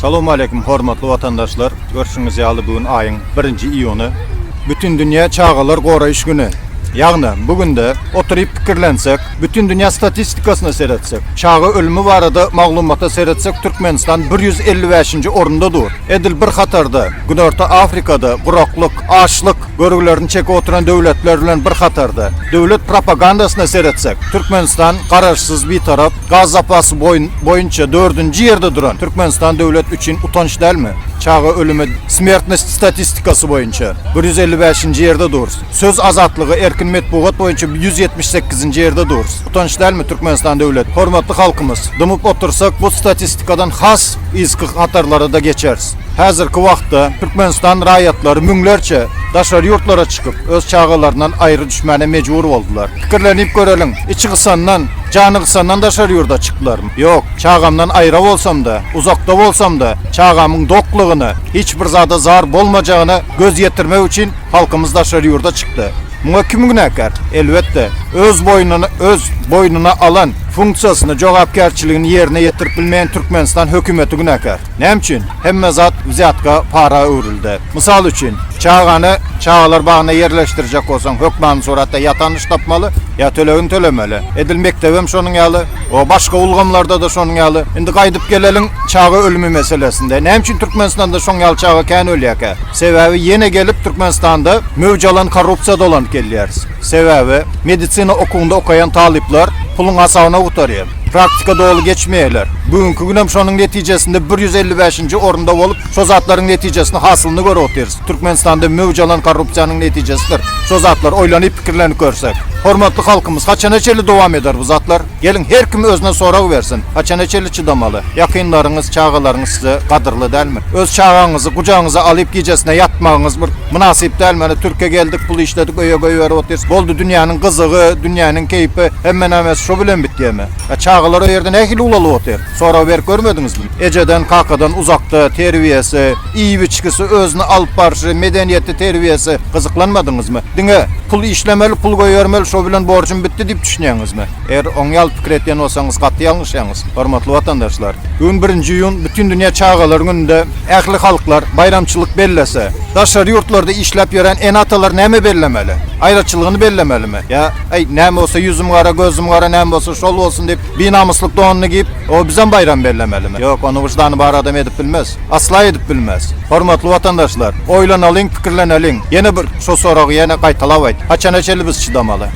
Salowmaleýkim hormatly watandaşlar! Görşüňiz ýaly bu gün aýyň birinji iýuny. Bütindünýä çagalar goraýyş güni. Ýagny bu günde oturyp pikirlensek, bütindünýä statistikasyna seretsek, çaga ölümi barada maglumata seretsek Türkmenistan bir ýüz elli bäşinji orunda dur. Edil bir hatarda Günorta Afrikada guraklyk, açlyk, Görgülerini çekip oturan döwletler bilen bir hatarda, döwlet propagandasyna seretsek, Türkmenistan Garaşsyz, Bitarap, gaz zapasy boýunça dördünji ýerde duran Türkmenistan döwlet üçin utanç dälmi? Çaga ölümi, smertnost statistikasy boýunça bir ýüz elli bäşinji ýerde durus. Söz azatlygy, erkin metbugat boýunça ýüz ýetmiş sekizinji ýerde durus. Utanç dälmi Türkmenistan döwlet? Hormatly halkymyz, dymyp otursak bu statistikadan has yzky hatarlara-da geçeris. Häzirki wagtda Türkmenistan raýatlary müňlerçe daşary ýurtlara çykyp, öz çagalaryndan aýry düşmäne mejbur boldular. Pikirlenip göreliň, içi gysandan, jany gysandan daşary ýurda çyklaryn? Ýok, çagamdan aýra bolsam-da, uzakda bolsam-da, çagamyň doklygyna, hiç bir zada zar bolmajagyna göz ýetirmek üçin halkymyz daşary ýurda çykdy. Muňa kim günäkär? Elbetde, öz boýnuna öz boýnuna alan funksiýasyny, jogapkärçiligini ýerine ýetirip bilmeýän Türkmenistan hökümeti günäkär. Näme üçin hemme zat wzýatka, para öwrüldi? Mysal üçin, çagany çagalar bagyna ýerleşdirjek bolsaň, hökmany suratda ýa tanyş tapmaly, ýa tölegini tölemeli. Edil mekdebem şonuň ýaly, o başga ulgamlarda-da şonuň ýaly. Indi gaýdyp geleliň çaga ölümi meselesinde. Näme üçin Türkmenistanda şoň ýaly çaga kän ölýärkä? Sebäbi ýene gelip Türkmenistanda möwç alan korrupsiýa dolanyp gelýäris. Sebäbi medisina okuwynda okaýan talyplar puluň hasabyna gutarýar. Praktika doly geçmeýärler. Bu günki günem şonuň netijesinde bir ýüz elli bäşinji orunda bolup, şo zatlaryň netijesini, hasylyny görüp otyrys. Türkmenistanda möwç alan korrupsiýanyň netijesidir şo zatlar, oýlanyp, pikirlenip görsek. Hormatly halkymyz, haçana çenli dowam eder bu zatlar? Geliň, her kim özüne sorag bersin, haçana çenli çydamaly? Ýakynlaryňyz, çagalaryňyz size gadyrly dälmi? Öz çagaňyzy gujagyňyza alyp gijesine ýatmagyňyz bir. Mynasyp däl mana türke geldik pul işledik öýe goýberip otyrys boldy dünýäniň gyzygy dünýäniň keýpi hemme nämäsi şo bilen bitýämi a çagalar o ýerde nähili ulalyp otyr sorag berip görmediňizmi ejeden kakadan uzakda terbiýesi iýip içgisi özüni alyp barşy medeniýeti terbiýesi gyzyklanmadyňyzmy diňe pul işlemeli pul goýbermeli şo bilen borjum bitdi diýip düşünýäňizmi. Eger oň ýaly pikir edýän bolsaňyz gaty ýalňyşýaňyz, hormatly watandaşlar. Bu gün birinji iýun Bütindünýä çagalar gününde ähli halklar baýramçylyk bellese, daşary ýurtlarda işläp ýören ene-atalar näme bellemeli? Aýraçylygyny bellemelimi? Ýa, Äý, näme bolsa ýüzüm gara, gözüm gara, näme bolsa şol bolsun diýip, binamyslyk donuny giýip, o bizem baýram bellemelimi? Ýok, ony wyždany bar adam edip bilmez. Asla edip bilmez. Hormatly watandaşlar, oýlanalyň, pikirleneliň. Ýene bir şo soragy ýene gaýtalap aýt, haçana çenli biz çydamaly?